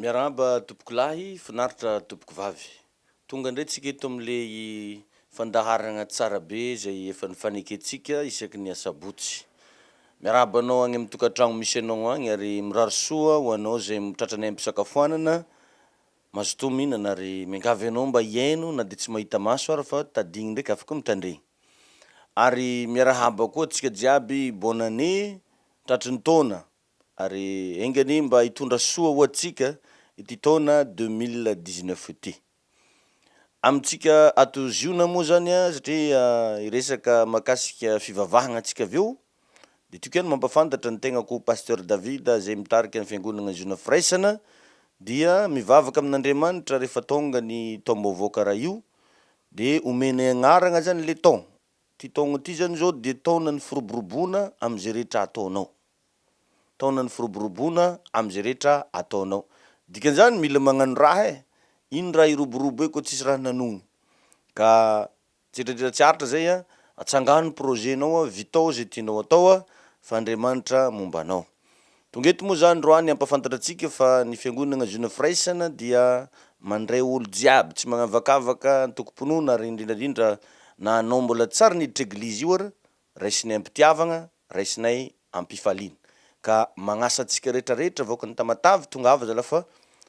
Miarahaba tompoko lahy, finaritra tompoko vavy. Tonga indray tsika eto amin'ilay fandaharagna tsara be izay efa nifanekentsika isaky ny asabotsy. Miarahaba anao agny amin'ny tokantragno misy anao agny ary mirary soa ho anao izay mitratra ny aim-pisakafoanana. Mazotoa mihinana ary miangavy anao mba hihaino na dia tsy mahita maso ary fa tadiny ndraiky afaka mitandregny. Ary miarahaba koa antsika jiaby, bonne année, tratry ny taona, ary enga anie mba hitondra soa ho antsika ity taona deux mille dix-neuf ity. Amintsika ato Ziona moa zany a, satria hiresaka mahakasika fivavahagna antsika avy eo, de tiako ihany mampafantatra ny tegnako Pasteur David zay mitarika ny Fiangonagna Ziona Firaisana, dia mivavaka amin'Andriamanitra rehefa tônga ny taom-baovao karaha io, de omenay agnaragna zany le taon, Ity taogna ity zany zao dia taonan'ny firoboroboana amin'izay rehetra ataonao. Taonan'ny firoboroboana amin'izay rehetra ataonao. Dikan'izany mila magnano raha e! Ino raha hiroborobo eo koa tsisy raha nanogno. Ka tsetradrera tsy aritra zay an, atsangano ny projet-nao, vitao zay tianao atao fa Andriamanitra momba anao. Tonga eto moa izany Roany hampafantatra antsika fa ny Fiangonana Ziona Firaisana dia mandray olo jiaby tsy magnavakavaka antokom-pinoana ary indrindra indrindra na anao mbola tsary niditra eglizy io ary raisinay am-pitiavagna, raisinay am-pifaliana. Ka magnasa antsika rehetra rehetra vahoaka ny Tamatave tongava zala fa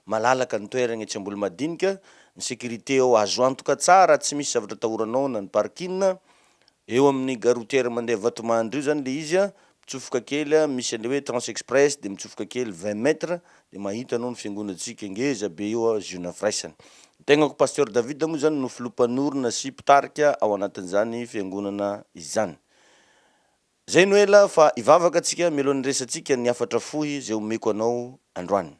malalaka ny toeragna etsy Ambolomadinika, ny sécurité ao azo antoka tsara tsy misy zavatra atahoranao na ny parking, Eo amin'ny gare routière mandeha Vatomandry io zany le izy a, mitsofoka kely a, misy an'le hoe trans express de mitsofoka kely vingt mètres de mahita anao ny fiangonantsika ngeza be eo a, Ziona firaisana. Ny tegnako Pasteur David moa zany no filoha mpanorina sy mpitarika ao anatin'izany fiangonana izany. Zay no ela fa hivavaka tsika mialohan'ny hiresatsika ny hafatra fohy zay omeko anao androany.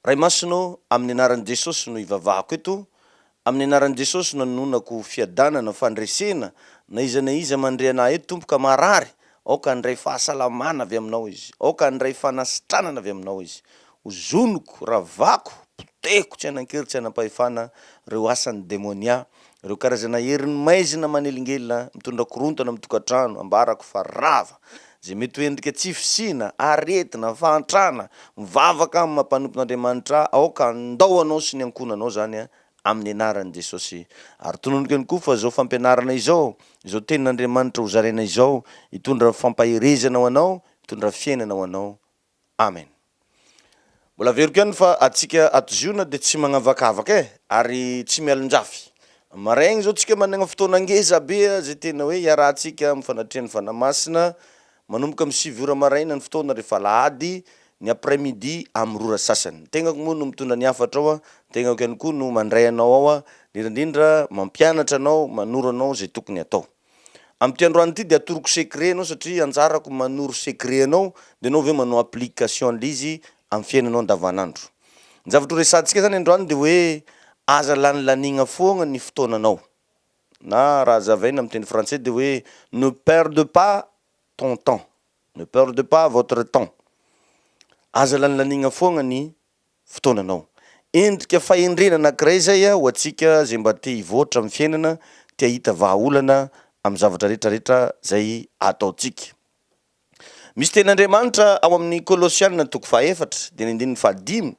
Ray Masina ô, amin'ny anaran'i Jesosy no ivavahako eto, amin'ny anaran'i Jesosy no anononako fiadanana, fandresena, na iza na iza mandre anah eto Tompo ka marary, aoka handray fahasalamana avy aminao izy, aoka handray fanasitranana avy aminao izy, ozoniko, ravako, potehiko tsy hanan-kery tsy hanam-pahefana reo asan'ny demonia, Ireo karazana herin'ny maizina manelingelina mitondra korontana amin'ny tokantrano ambarako fa rava, izay mety ho endrika tsy fisiana, aretina, fahantrana, mivavaka amin'ny maha mpanompo n'Andriamanitra aoka handao anao sy ny ankohonanao izany amin'ny anaran'i Jesosy. Ary tononiko ihany koa fa izao fampianarana izao, izao tenin'Andriamanitra hozaraina izao hitondra fampaherezana ho anao, hitondra fiainana ho anao. Amen. Mbola averiko ihany fa atsika ato Ziona dia tsy magnavakavaka eh, ary tsy mialonjafy. Marin izao tsika managna fotoana ngeza be zay tena hoe iarahantsika amin'ny fanatrehan'ny Fanahy Masina, manomboka amin'ny sivy ora maraina ny fotoana rehefa alahady, ny après midi amin'ny roa ora sasany. Ny tegnako moa no mitondra ny hafatra ao, ny tegnako ihany koa no mandray anao ao, indrindraindrindra mampianatra anao, manoro anao zay tokony atao. Amin'ity androany ity dia atoroko secret anao satria anjarako manoro secret anao dia enao ve manao application an'ilay izy amin'ny fiainanao andavanandro. Ny zavatra horesahantsika zany androany dia hoe aza lanilaniagna foagna ny fotoananao na raha hazavaina amin'ny teny frantsay dia hoe ne perde pas ton temps, ne perde pas votre temps, aza lanilaniagna foagna ny fotoananao. Endrika fahendrena anankiray izay ho antsika izay mba te hivoatra amin'ny fiainana, te hahita vahaolana amin'ny zavatra rehetrarehetra izay ataontsika. Misy tenin'Andriamanitra ao amin'ny Kolosiana toko fahaefatra, dia ny andininy fahadimy.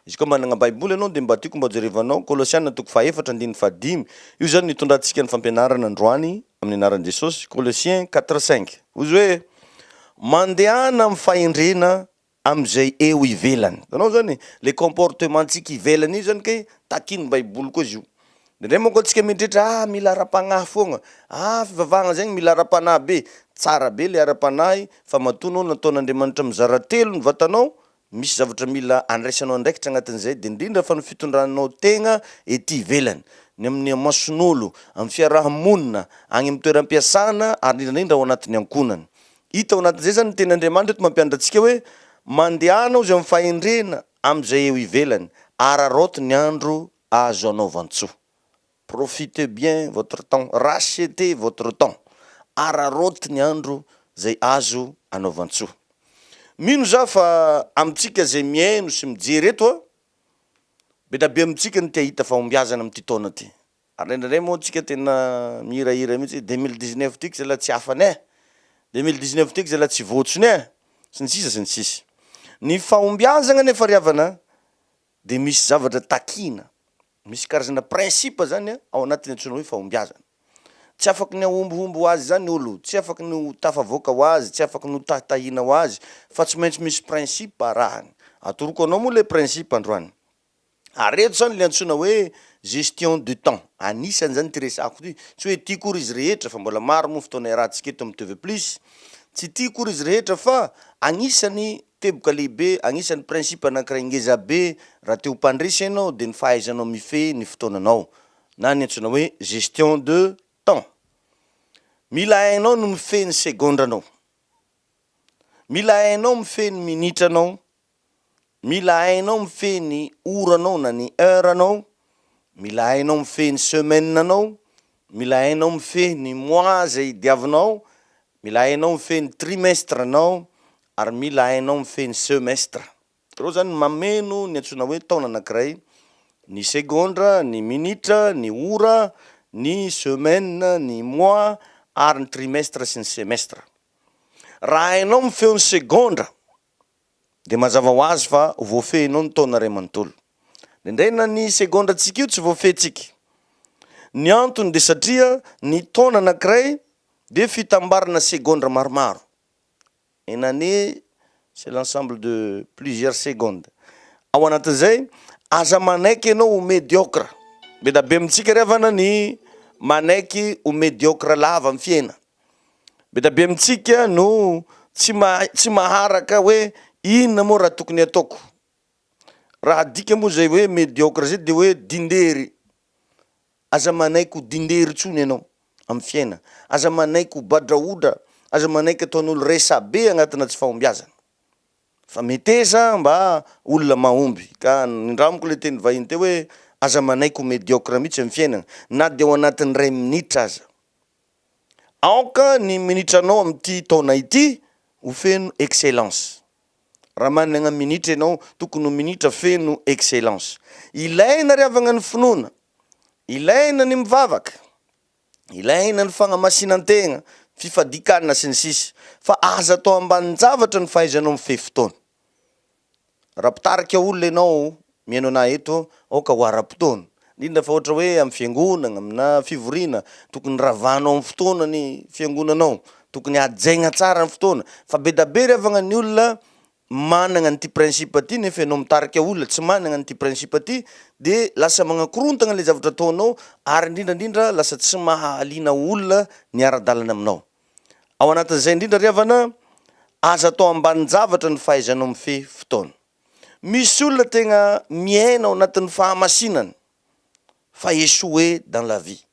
Izy koa manana Baiboly ianao dia mba tiako mba hojerevanao Kolosiana toko fahaefatra andininy fahadimy. Io izany no hitondrantsika ny fampianarana androany amin'ny anaran'i Jesosy, Colossiens quatre cinq. Hoy izy hoe, Mandehana amin'ny fahendrena amin'izay eo ivelany. Hitanao izany e, le comportement-tsika ivelany io izany kay takin'ny baiboly koa izy io. Indraindray manko antsika mieritreritra ah mila ara-panahy foagna, ah fivavahagna zegny mila ara-panahy be, tsara be le ara-panahy fa matoa anao nataon'Andriamanitra mizara telo ny vatanao, misy zavatra mila andraisanao andraikitra agnatin'izay de indrindra fa ny fitondranao tegna ety ivelany, ny amin'ny amason'olo, amin'ny fiaraha-monina, agny amin'ny toeram-piasana ary indrindraindrindra ao anatin'ny ankohonany. Hita ao anatin'izay izany ny tenin' Andriamanitra eto mampianatra antsika hoe, Mandehana hozy amin'ny fahendrena amin'izay eo ivelany, araraoty ny andro azo anaovan-tsoa. Profitez bien votre temps, rachetez votre temps. Araraoty ny andro izay azo anaovan-tsoa. Mino za fa amintsika izay mihaino sy mijery eto a, be da be amintsika no te hahita fahombiazana amin'ity taona ity. Ary indraindray moa tsika tena mihirahira mihitsy hoe 2019 tiako zalahy tsy afany eh! 2019 tiako zalahy tsy voatsony eh! sy ny sisa sy ny sisa. Ny fahombiazagna nefa ry havana dia misy zavatra takina, misy karazana principe zany ao anatiny antsoina hoe fahombiazana. Tsy afaky ny hahombohombo ho azy zany olo, tsy afaky ny ho tafavoaka ho azy, tsy afaky ny ho tahitahina ho azy fa tsy maintsy misy principe arahany. Atoroko anao moa le principe androany. ary eto zany le antsoina hoe gestion de temps, anisany zany ity resako ity, tsy hoe ity kory izy rehetra fa mbola maro moa fotoana iarahantsika eto amin'ny TV plus, tsy ity kory izy rehetra fa anisany teboka lehibe, anisany principe anankiray ngeza be raha te ho mpandresy ianao dia ny fahaizanao mifehy ny fotoananao na ny antsoina hoe gestion de temps, mila hainao ny mifehy ny segondranao, mila hainao mifehy ny minitranao, Mila hainao mifehy ny ora anao na ny heure anao, mila hainao mifehy ny semaine anao, mila hainao mifehy ny mois izay diavinao, mila hainao mifehy ny trimestre anao ary mila hainao mifehy ny semestre. Ireo izany no mameno ny antsoina hoe taona anankiray, ny segondra, ny minitra, ny ora, ny semaine, ny mois ary ny trimestre sy ny semestre. Raha hainao mifeho ny segondra dia mazava ho azy fa ho voafehinao ny taona iray manontolo. Indraindray na ny segondrantsika io tsy voafehintsika. Ny antony dia satria ny taona anankiray dia fitambarana segondra maromaro. Une année c'est l'ensemble de plusieurs secondes. Ao anatin'izay, aza manaiky ianao ho mediocre. Be dia be amintsika ry havana ny manaiky ho mediocre lava amin'ny fiainana. Be dia be amintsika no tsy mahay, tsy maharaka hoe inona moa raha tokony ataoko. Raha adika moa izay hoe mediocre izay dia hoe dindery. Aza manaiky ho dindery intsony ianao amin'ny fiaina. Aza manaiky ho badraodra, aza manaiky ataon'olo resabe agnatina tsy fahombiazana. Fa meteza mba olona mahomby. Ka nindramiko le teny vahiny teo hoe aza manaiky ho mediocre mihitsy amin'ny fiainana na dia ao anatin'ny ray minitra aza. Aoka ny minitranao amin'ity taona ity ho feno excellence. Raha managna minitra ianao, tokony ho minitra feno excellence. Ilaina ry havagna ny finoana, ilaina ny mivavaka, ilaina ny fagnamasinan-tegna, fifadian-kanina sy ny sisa, fa aza atao ambanin-javatra ny fahaizanao mifehy fotoana. Raha mpitarika olona ianao mihaino anah eto, aoka ho ara-potoana. Indrindra fa ohatra hoe amin'ny fiangonagna, aminà fivoriana, tokony ravahanao amin'ny fotoana ny fiangonanao. Tokony hajaigna tsara ny fotoana. Fa be da be ry havagna ny olona managna an'ity principe ty nefa ianao mitarika olona tsy managna an'ity principe ty de lasa magnakorontagna le zavatra ataonao ary indrindra indrindra lasa tsy maha-alina olona ny ara-dalana aminao. Ao anatin'izay indrindra ry havana, aza atao ambanin-javatra ny fahaizanao mifehy fotoana. Misy olona tegna miaina ao anatin'ny fahamasinana fa échoué dans la vie.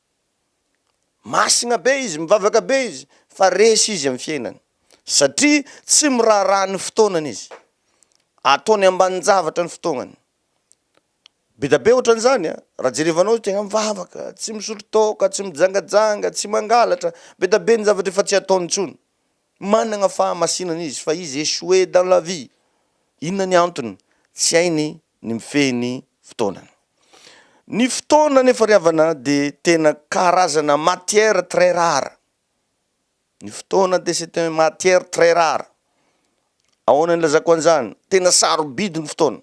Masigna be izy, mivavaka be izy fa resy izy amin'ny fiainany satria tsy miraharaha ny fotoanany izy. Ataony ambanin-javatra ny fotoagnany. Be da be otran'izany a! Raha jerevanao izy tegna mivavaka, tsy misotro toaka, tsy mijangajanga, tsy mangalatra, be da be ny zavatra efa tsy ataony intsony. Managna fahamasinana izy fa izy échoué dans la vie. Inona ny antony? Tsy hainy ny mifehy ny fotoanany. Ny fotoana anefa ry havana de tena karazana matière très rare. Ny fotoana de c'est un matière très rare. Ahoana ny ilazako an'izany? Tena sarobidy ny fotoana.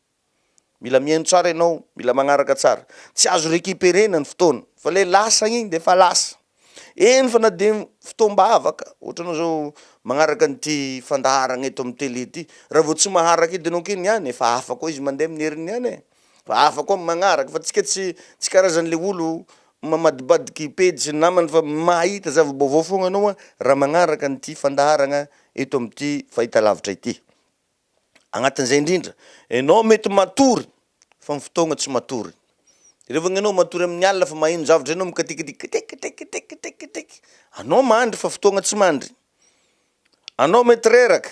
Mila mihaino tsara ianao, mila magnaraka tsara. Tsy azo recuperer-na ny fotoana, fa le lasa igny de efa lasa. Eny fa na de fotoam-bavaka, ohatranao zao magnaraka an'ity fandaharagna eto amin'ny télé ity, raha vao tsy maharaka edy ianao k'igny any efa hafa koa izy mandeha amin'ny heriny ihany e! fa hafa koa magnaraka, fa tsika tsy tsy karazan'le olo mamadibadiky pejy sy ny namany fa mahita zava-baovao foagna anao a, raha magnaraka an'ity fandaharagna eto amin'ity fahitalavitra ity. Agnatin'izay indrindra, enao mety matory fa ny fotoagna tsy matory. Revô ny anao matory amin'ny alina fa maheno zavatra zay anao mikatikidy kitikitikitikitikitikitiky, anao mandry fa fotoagna tsy mandry. Anao mety reraka,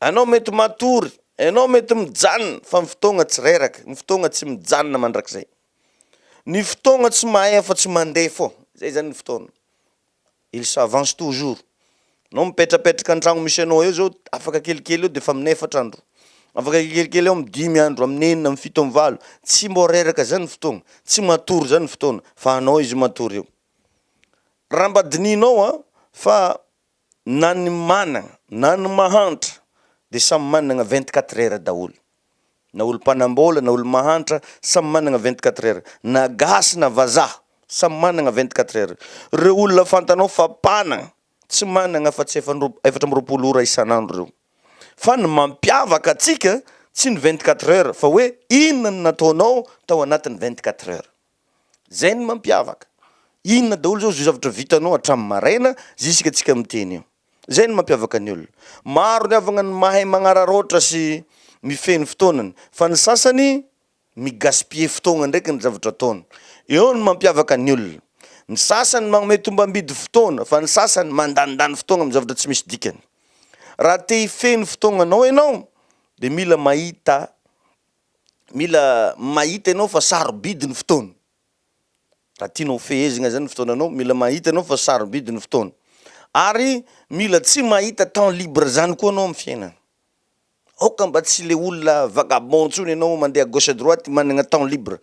anao mety matory, enao mety mijanona fa ny fotoagna tsy reraka, ny fotoagna tsy mijanona mandrakizay. Ny fotoagna tsy mahay afa-tsy mandeha fô, zay zany ny fotoagna. Il s'avance toujours. Anao mipetrapetraka antragno misy anao eo zao afaka kelikely eo defa amin'ny efatra andro, afaka kelikely eo amin'ny dimy andro, amin'ny enina, amin'ny fito, amin'ny valo, tsy mbô reraka zany ny fotoagna, tsy matory zany ny fotoagna fa anao izy matory eo. Raha mba dinihinao an, fa na ny managna na ny mahantra de samy managna vingt quatre heures daholo. na olo mpanambola na olo mahantra samy managna vingt quatre heures na gasy na vazaha samy managna vingt quatre heures reo olona fantanao fa mpanagna tsy managna afa tsy efatra amby roapolo ora isan'andro reo fa ny mampiavaka atsika tsy ny vingt quatre heures fa hoe inona no nataonao tao anatin'ny vingt quatre heures. Zay ny mampiavaka. Inona daholo zao zio zavatra vitanao hatramin'ny maraina zisika tsika miteny io. Zay ny mampiavaka ny olona. Maro ny havagna ny mahay magnararaotra sy mifehy ny fotoanany fa ny sasany mi gaspiller fotoagna ndraiky ny zavatra ataony. Eo ny mampiavaka ny olona. Ny sasany magnome tombambidy fotoana fa ny sasany mandanindany fotoagna amin'ny zavatra tsy misy dikany. Raha te hifehy ny fotoagnanao enao de mila mahita mila mahita ianao fa sarobidy ny fotoana, raha tianao hofehezina zany ny fotoananao, mila mahita ianao fa sarobidy ny fotoana, ary mila tsy mahita temps libre zany koa anao amin'ny fiainana, aoka mba tsy le olona vagabond ntsony ianao mandeha à gauche à droite managna temps libre,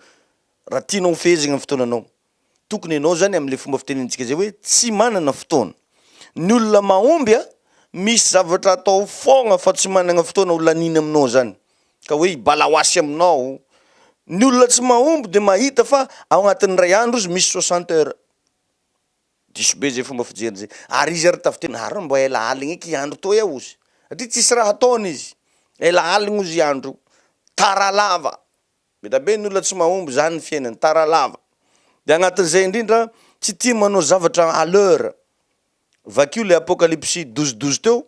raha tianao hofehezagna ny fotoananao. Tokony enao zany amle fomba fitenentsika zay hoe tsy manana fotoana. Ny olona mahomby a misy zavatra atao fôgna fa tsy managna fotoana ho laniny aminao zany ka hoe hibala ho asy aminao. Ny olona tsy mahomby de mahita fa ao agnatin'ny ray andro izy misy soixante heures. Diso be zay fomba fijeriny zay. Ary izy ary tafiteny ha reo mba ela aligny eky andro toy ao ozy satria tsisy raha ataony izy. Ela aligny ozy andro io. Tara lava. Mila be ny olona tsy mahomby izany ny fiainany, tara lava. Dia agnatin'izay indrindra, tsy tia manao zavatra à l'heure. Vakio ilay Apokalypsy douze douze teo,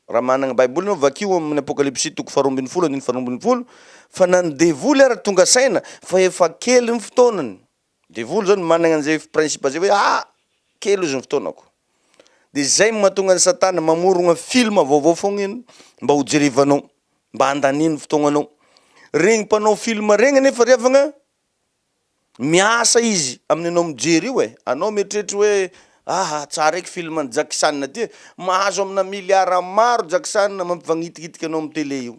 raha managna baiboly anao, vakio amin'ny Apokalypsy toko faharoa ambin'ny folo andininy faharoa ambin'ny folo, fa na ny devoly ary tonga saina fa efa kely ny fotoanany. Devoly zao no managna an'izay principe zay hoe ah! kely ozy ny fotoanako. De zay no mahatonga an'i satana mamorogna film vaovao foagna iny mba ho jerevanao, mba handaniany fotoagnanao. Regny mpanao film regny anefa ry havagna, miasa izy amin'ny anao mijery io e, anao mieritreritra hoe aha! tsara eky film an'i Jackson ty e, mahazo amina milliard maro Jackson mampivagnitignitika anao amin'ny tele io.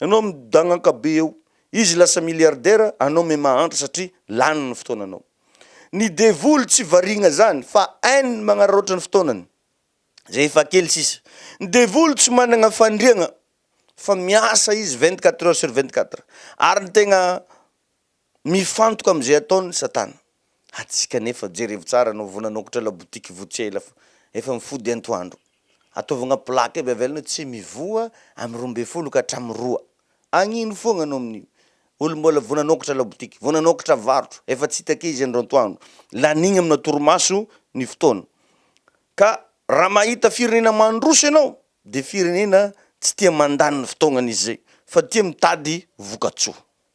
Ianao midagnaka be eo. Izy lasa milliardaire anao me mahantra satria lany ny fotoananao. Ny devoly tsy variagna zany fa hainy magnararaotra ny fotoanany. Zay efa kely sisa. Ny devoly tsy managna fandriagna fa miasa izy vingt-quatre heures sur vingt-quatre ary ny tegna Mifantoka amin'izay ataon'i Satana. Antsika anefa, jerevo tsara anao vao nanokatra labotiky vao tsy ela fa efa mifody antoandro. Ataovy agnaty plaque aby avelany hoe tsy mivoha amin'ny roa ambin'ny folo ka hatramin'ny roa. Agnino foagna anao amin'io. Olo mbola vao nanokatra labotiky, vao nanokatra varotra, efa tsy hita ake izy andro antoandro. Lanigny amina torimaso ny fotoana. Ka raha mahita firenena mandroso ianao dia firenena tsy tia mandany ny fotoagnan'izy izay fa tia mitady vokatsoa.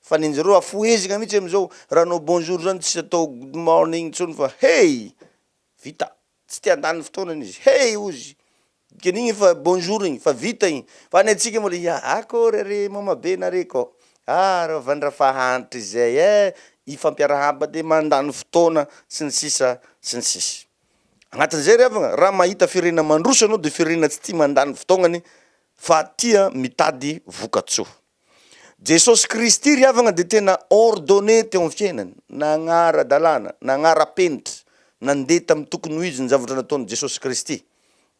Fa ny anjareo afohezaka mihitsy amizao raha anao bonjour zany tsy atao good morning intsony fa hey! vita! tsy te handany fotoana izy hey! hozy dikany igny efa bonjour igny fa vita igny fa ny antsika mbola ia akory are mama be nare kô ah reo vandra fa hantrizay eh! ifampiarahaba de mandany fotoana sy ny sisa sy ny sisa agnatin'izay ry havagna raha mahita firenena mandroso anao de firenena tsy tia mandany fotoagnany fa tia mitady vokatsoa. Jesosy Kristy ry havana dia tena ordonné teo amin'ny fiainany, nagnara-dalàna, nagnara-penitra, nandeha tamin'ny tokony ho izy ny zavatra nataon'i Jesosy Kristy.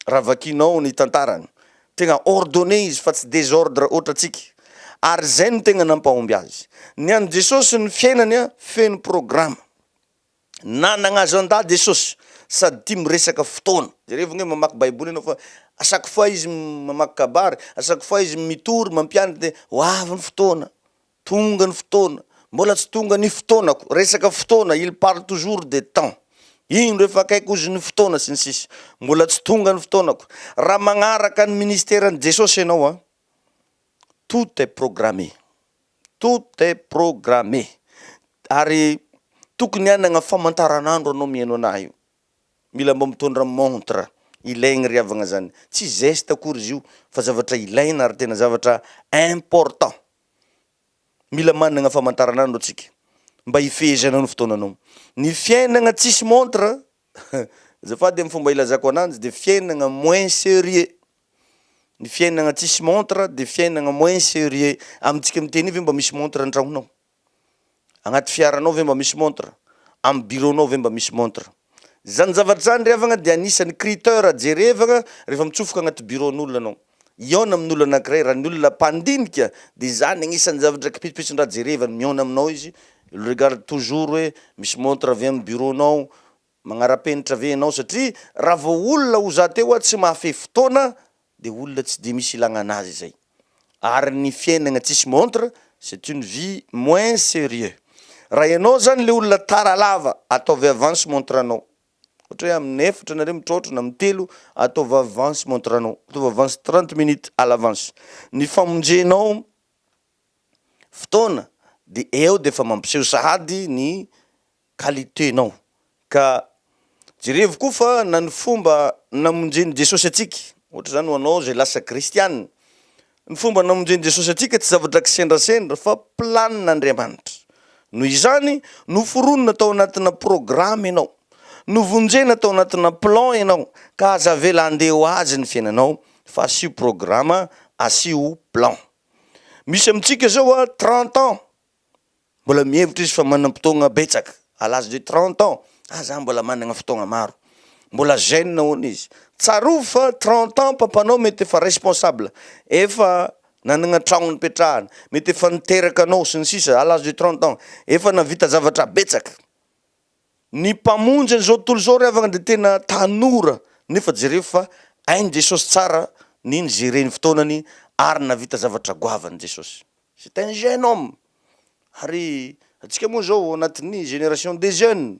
Raha vakianao ny tantarany, tegna ordonné izy fa tsy désordre ohatra antsika, ary izay no tegna nampahomby azy. Ny an'i Jesosy ny fiainany feno programa. Nanagna agenda Jesosy sady tia miresaka fotoana. Jerevagna hoe mamaky baiboly anao fa à chaque fois izy mamaky kabary, à chaque fois izy mitory mampianatra dia ho avy ny fotoana, tonga ny fotoana, mbola tsy tonga ny fotoanako, resaka fotoana, il parle toujours de temps, indro efa akaiky ozy ny fotoana sy ny sisa, mbola tsy tonga ny fotoanako. Raha magnaraka ny ministeran'i Jesosy ianao an! Tout est programme, tout est programme ary tokony hanagna famantaranandro anao mihaino anah io, mila mba mitondra montre, ilaigny ry havagna zany, tsy geste akory izy io fa zavatra ilaina ary tena zavatra important, mila managna famantaranandro antsika mba hifehezana ny fotoananao, ny fiainagna tsisy montre, azafady amin'ny fomba ilazako ananjy, de fiainagna moins serieux. Ny fiainagna tsisy montre de fiainagna moins serieux, amintsika miteny io ve mba misy montre antragnonao? Agnaty fiaranao ve mba misy montre? Am bureau nao ve mba misy montre? Zany zavatra zany ry havagna dia agnisany criteur jerevagna refa mitsofoka agnaty bureau n'olona anao, hihaona amin'olo anakiray, raha ny olona mpandinika de zany agnisany zavatra kipitsipitsin-draha jerevany, mihaona aminao izy, il regarde toujours hoe misy montre ve am bureau nao? Magnarapenitra ve enao satria raha vao olona ho za teo a tsy mahafehy fotoana de olona tsy de misy ilagna anazy zay ary ny fiainagna tsisy montre c'est une vie moins serieux raha enao zany le olona tara lava ataovy avance montre anao ohatra hoe aminy efatra nareo mitraotra na aminy telo ataovy avance montre anao ataovy avance trente minutes à l'avance ny famonjenao fotoana de eo defa mampiseho sahady ny qualité nao ka jerevo koa fa na ny fomba namonjeny Jesosy antsika ohatra zany ho anao zay lasa kristianina ny fomba namonjeny Jesosy antsika tsy zavatra kisendrasendra fa planina Andriamanitra noho izany noforonina tao anatina programa ianao novonjena tao anatina plan ianao ka aza avela handeha ho azy ny fiainanao fa asio programa asio plan misy amintsika zao a trente ans Mbola mihevitra izy fa manam-potoagna betsaka, à l'âge de trente ans, ah za mbola managna fotoagna maro. Mbola jeune hono izy. Tsarovy fa trente ans papanao mety efa responsable, efa nanagna tragno nipetrahany, mety efa niteraka anao sy ny sisa, à l'âge de trente ans, efa navita zavatra betsaka. Ny mpamonjy an'izao tontolo izao ry havagna dia tena tanora nefa jereo fa hain'i Jesosy tsara ny ni-gérer ny fotoanany ary navita zavatra goavany Jesosy. C'est un jeune homme ary antsika moa zao anatin'ny génération des jeunes,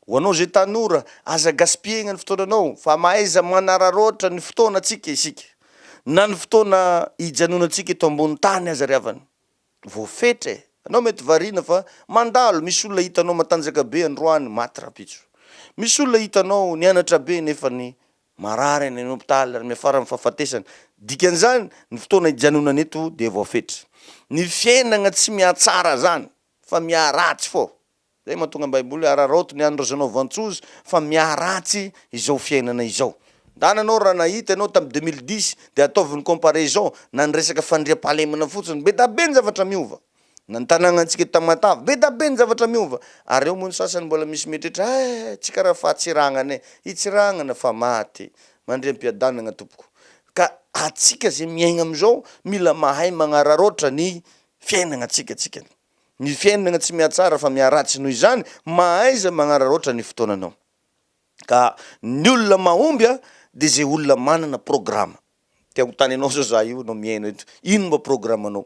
ho anao zay tanora aza gaspiller-na ny fotoananao fa mahaiza manararaotra ny fotoana tsika isika na ny fotoana hijanonantsika eto ambony tany aza ry havana voafetra e! anao mety variana fa mandalo misy olona hitanao matanjaka be androany maty rahampitso, misy olona hitanao nianatra be nefany Marary any hopitaly ary miafara amin'ny fahafatesana. Dikan'izany, ny fotoana hijanonany eto dia voafetra. Ny fiainagna tsy mihatsara zany fa miharatsy fô. Zay mahatonga ny baiboly hoe araraoty ny an'ny razanao vantsozy fa miharatsy izao fiainana izao. Ndana anao raha nahita ianao tamin'ny deux mille dix dia ataovy ny comparaison na ny resaka fandriampahalemana fotsiny. Be da be ny zavatra miova. Na ny tanàgnantsika Tamatave. Be da be ny zavatra miova. Ary ao moa ny sasany mbola misy mieritreritra, Hay, tsy karaha fahatsirangana e! Hitsirangana fa maty. Mandria am-piadanagna tompoko. Ka atsika zay miaigna amizao mila mahay magnararaotra ny fiainagnatsika tsika. Ny fiainagna tsy mihatsara fa miharatsy noho izany mahaiza magnararaotra ny fotoananao. Ka ny olona mahomby a de zay olona manana programa. Te ho tany anao zao za io anao miaina eto. Ino mba programanao?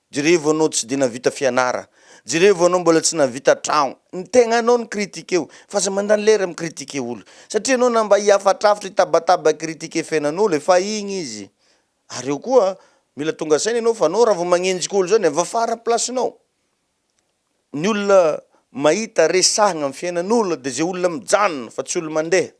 Jerevo anao tsy de navita fianara, jerevo anao mbola tsy navita tragno, ny tegnanao no critique-o, fa aza mandany lera mi critique olo, satria anao na mba hihafatrafitra hitabataba critique fiainan'olo efa igny izy, ary eo koa mila tonga saina enao fa anao raha vao magnenjika olo zany avafara place-nao, Ny olona mahita resahagna am fiainan'olo de ze olona mijanona fa tsy olo mandeha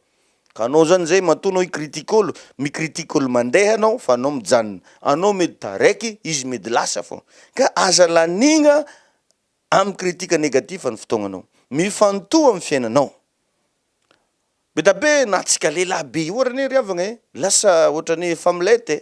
ka anao zany zay matoa anao hi-critique olo mi-critique olo mandeha anao fa anao mijanona anao mety taraiky izy mety lasa fô ka aza lanigna am critique negatif ny fotoagnanao mifantoha am fiainanao be da be na antsika lehilahy be io ary anie ry havagna e lasa ohatrany familette e.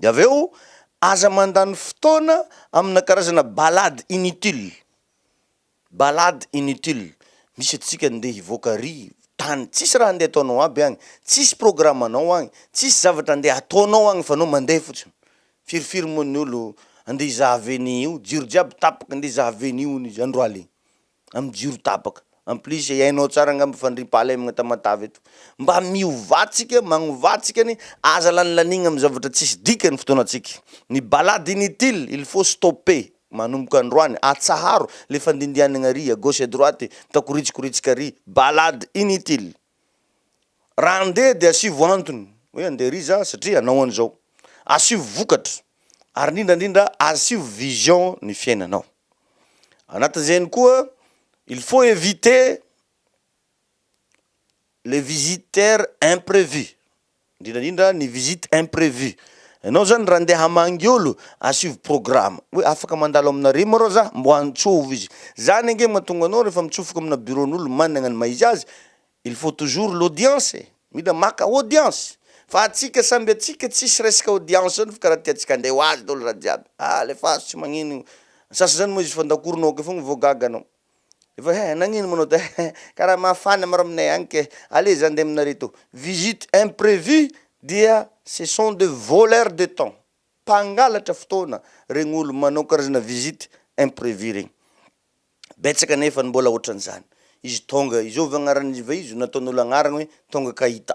Dia avy eo aza mandany fotoana amina karazana ballade inutile. Ballade inutile. Misy antsika ndeha hivoaka ary tany tsisy raha ndeha ataonao aby agny, tsisy programme anao agny, tsisy zavatra ndeha ataonao agny fa anao mandeha fotsiny. Firy firy moa ny olo andeha hizaha venue io, jiro jiaby tapaka ndeha hizaha venue hono izy andro alina. amin'ny jiro tapaka. En plus hainao tsara angamba ny fandriampahalemana Tamatave eto. Mba miovà tsika, magnovà tsika anie, aza lanilaniagna amin'ny zavatra tsisy dikany ny fotoanantsika. Ny balade inutile, il faut stopper, manomboka androany, atsaharo le fandindianagna ary, à gauche à droite, mitakoritsikoritska ary, balade inutile. Raha andeha dia asivo antony hoe andeha ery za satria anao an'izao. Asivo vokatra ary indrindra indrindra asivo vision ny fiainanao. Anatin'izegny koa il faut eviter les visiteurs imprevu. Indrindra indrindra ny visite imprévue. Ianao zany raha ndeha hamangy olo, à suivre programme. Hoe afaka mandalo aminareo moa reo za? Mbo antsovo izy. Zany ange mahatonga anao rehefa mitsofoka amina bureau-n'olo managna ny maha izy azy, il faut toujours l'audience e! Mila maka audience! Fa atsika samby atsika tsisy resaka audience zany fa karaha tiantsika handray ho azy daholo raha jiaby. Alefaso tsy magnino io. Ny sasany zany moa izy fandakoro nao akeo fogna vao gaga anao. Efa he nagnino moa anao he karaha mafana maro aminay agny ke aleo za ndeha aminareo to visite imprevue dia ce sont de voleurs de temps mpangalatra fotoana regny olo manao karazana visite imprevue regny betsaka nefa ny mbola otran'izany izy tonga izovy agnarany izy ve izy nataon'olo agnarany hoe tonga ka hita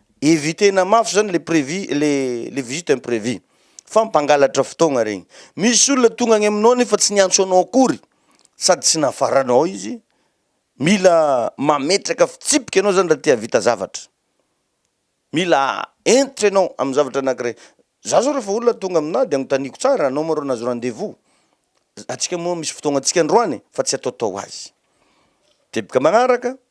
Eviter-na mafy zany le prévu le le visite imprévue fa mpangalatra fotoagna regny. Misy olona tonga agny aminao nefa tsy niantso anao akory sady tsy nafaranao izy, mila mametraka fitsipika anao zany raha te hahavita zavatra, mila hentitra ianao amin'ny zavatra anakiray. Za zao refa olona tonga aminah de agnontaniako tsara, anao ma rô nahazo rendez-vous? Antsika moa misy fotoagna antsika androany fa tsy ataotao azy. Teboka magnaraka,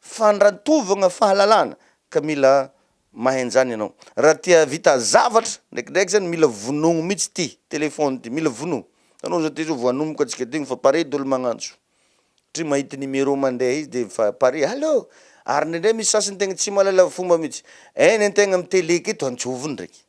Fandrantovagna fahalalana ka mila mahay an'izany ianao. Raha te hahavita zavatra, ndraikindraiky izany mila vonoigno mihitsy ity téléphone ity, mila vonoigno. Hitanao izao ity izao vao hanomboka antsika ity, fa pare dolo magnantso. Satria mahita numéro mandeha izy dia efa pare, allô! Ary indraindray misy sasany tegna tsy mahalala fomba mihitsy. Eny an-tegna amin'ny télé aketo, antsovigny ndraiky.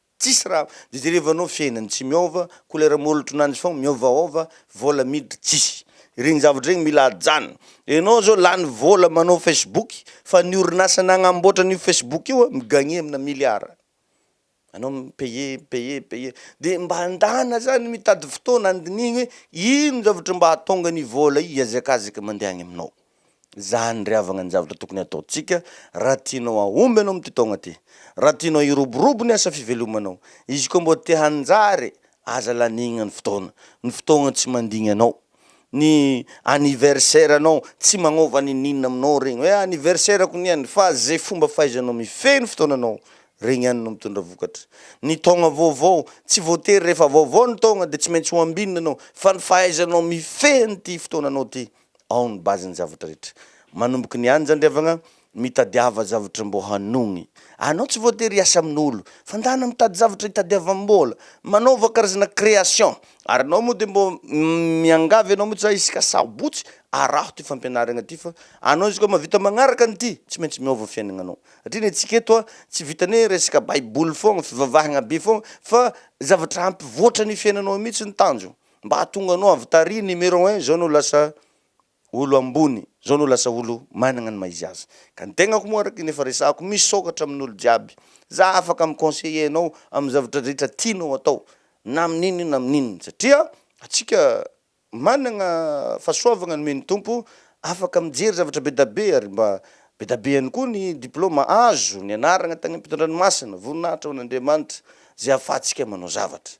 Tsisy raha dia jerevanao fiainany tsy miôva kolera môlotro nany fô miôvaôva vôla miditra tsisy regny zavatra regny mila ajanona enao zao lany vôla manao facebook fa ny orinasa nagnambôtra an'io facebook io a mi-gagner amina milliard anao mi-payer mi-payer mi-payer dia mba andana zany mitady fotoana andinihigna hoe ino zavatra mba ahatonga ny vôla hiazakazaka mandeha agny aminao Izany ry havagna ny zavatra tokony hataontsika raha tianao hahomby ianao amin'ity taogna ity. Raha tianao hiroborobo ny asa fivelomanao, izy koa mbô te hanjary, aza lanigna ny fotoagna. Ny fotoagna tsy mandigny anao. Ny anniversaire anao tsy magnôva n'ininona aminao regny hoe anniversaire ko niany fa ze fomba fahaizanao mifehy ny fotoagnanao regny ihany no mitondra vokatra. Ny taogna vaovao, tsy voatery rehefa vaovao ny taogna de tsy maintsy ho ambinina anao fa ny fahaizanao mifehy an'ity fotoagnanao ty ao ny base ny zavatra rehetra manomboka ny any zandriavagna mitadiava zavatra mbô hanogny anao tsy voatery hiasa amin'olo fa ndana mitady zavatra hitadiavambola manaova karazana création ary anao moa de mbô miangavy anao mitsy za isaka sabotsy araho ty fampianaragna ty fa anao izy koa mavita magnaraka an'ity tsy maintsy miôva fiainagnanao satria ny antsika eto a tsy vitan'ny hoe resaka baiboly fôgna fivavahagna be fôgna fa zavatra hampivoatra ny fiainanao mitsy ny tanjogno. Mba hahatonga anao avy tary numéro un zao anao lasa olo ambony zao anao lasa olo managna ny maha izy azy ka ny tegnako moa araky ny efa resahako misôkatra amin olo jiaby za afaka mi conseiller anao amin zavatra rehetra tianao atao na amin inona na amin inona satria atsika managna fahasoavagna nomen ny tompo afaka mijery zavatra be da be ary mba be da be ihany koa ny diplôma azo nianaragna tagny am pitondrany masina voninahitra ho an Andriamanitra ze afahatsika manao zavatra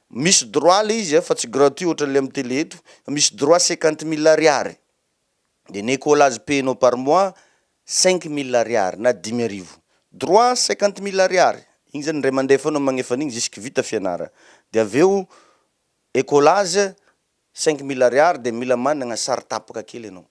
Misy droit le izy a fa tsy gratuit ohatran'le am tele eto, misy droit cinquante mille ariary de ny ecolage paie-nao par mois cinq mille ariary na dimy arivo, droit cinquante mille ariary, iny zany indray mandeha foana magnefa an'iny jusque vita fianarana, de avy eo ecolage Saingy mila ariary dia mila managna sary tapaka kely ianao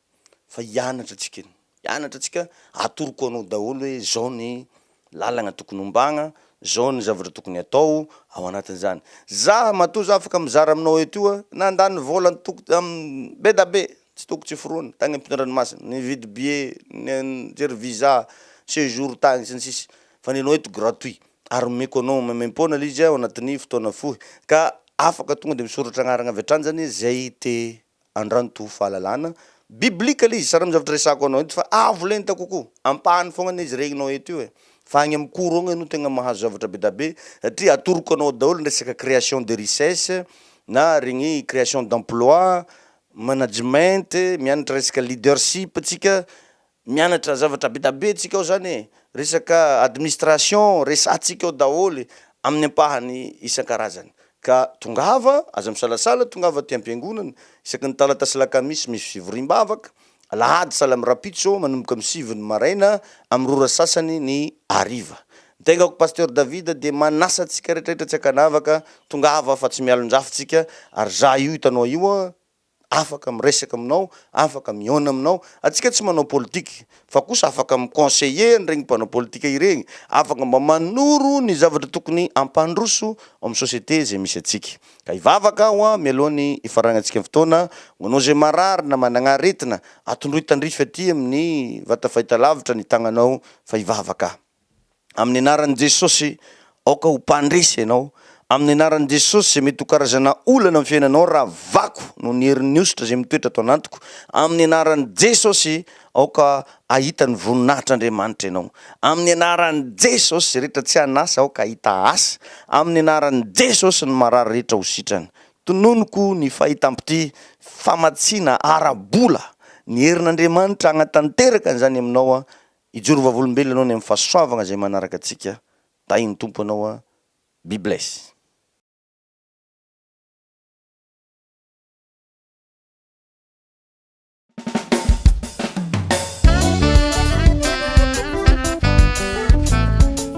fa hianatra antsika eny hianatra antsika atoroko anao daholo hoe zao ny lalagna tokony hombagna zao ny zavatra tokony atao ao anatin'izany za matoa za afaka mizara aminao eto io a nandany vola antoko am be da be tsy toko tsy foronina tagny ampitondranomasina nividy billet nijery visa sejour tagny sy ny sisa fa ny anao eto gratuit ary omeko anao maimaim-poana ilay izy ao anatin'ny fotoana fohy, ka afaka tonga dia misoratra anarana avy hatrany izany izay te handranto fahalalana biblika ilay izy. Sary amin'ny zavatra resahako anao eto fa avo lenta kokoa, ampahany foagna ilay izy regninao eto io e, fa agny amin'ny cours agny ianao tegna mahazo zavatra be da be satria atoroko anao daholo ny resaka création de richesse na regny création d'emploi, management, mianatra resaka leadership tsika, Mianatra zavatra betabe tsika ao zany e! Resaka administration resatsika ao daholo amin'ny ampahany isan-karazany. Ka tongava, aza misalasala, tongava aty am-piangonana, isaky ny talata sy lakamisy misy fivoriam-bavaka, alahady salam rapitso manomboka amin'ny sivy ny maraina amin'ny roa ora sasany ny hariva. Ny tenako Pasteur David dia manasa antsika rehetra rehetra tsy ankanavaka, tongava fa tsy mialon-drafotsika, ary za io hitanao io an, afaka miresaka aminao, afaka mihaona aminao, antsika tsy manao politika fa kosa afaka mi-conseiller an'ireny mpanao politika ireny, afaka mba manoro ny zavatra tokony hampandroso ao amin'ny société izay misy antsika. Ka hivavaka aho mialoha ny hifarangantsika ny fotoana, ho anao izay marary na managna aretina, atondroy tandrify aty amin'ny vata fahitalavitra ny tagnanao fa hivavaka aho. Amin'ny anaran'i Jesosy, aoka ho mpandresy ianao. Amin'ny anaran'i Jesosy, izay mety ho karazana olana amin'ny fiainanao, ravako noho ny herin'ny hosotra izay mitoetra ato anatiko. Amin'ny anaran'i Jesosy, aoka hahita ny voninahitr'Andriamanitra ianao. Amin'ny anaran'i Jesosy, izay rehetra tsy an'asa, aoka hahita asa. Amin'ny anaran'i Jesosy, ny marary rehetra ho sitrana. Tononiko ny fahitam-pitia, famatsiana ara-bola. Ny herin'Andriamanitra hagnatanteraka an'izany aminao, Hijoro vavolombelona ianao any amin'ny fahasoavagna izay manaraka antsika. Tahin'ny Tompo anao a. Be bless.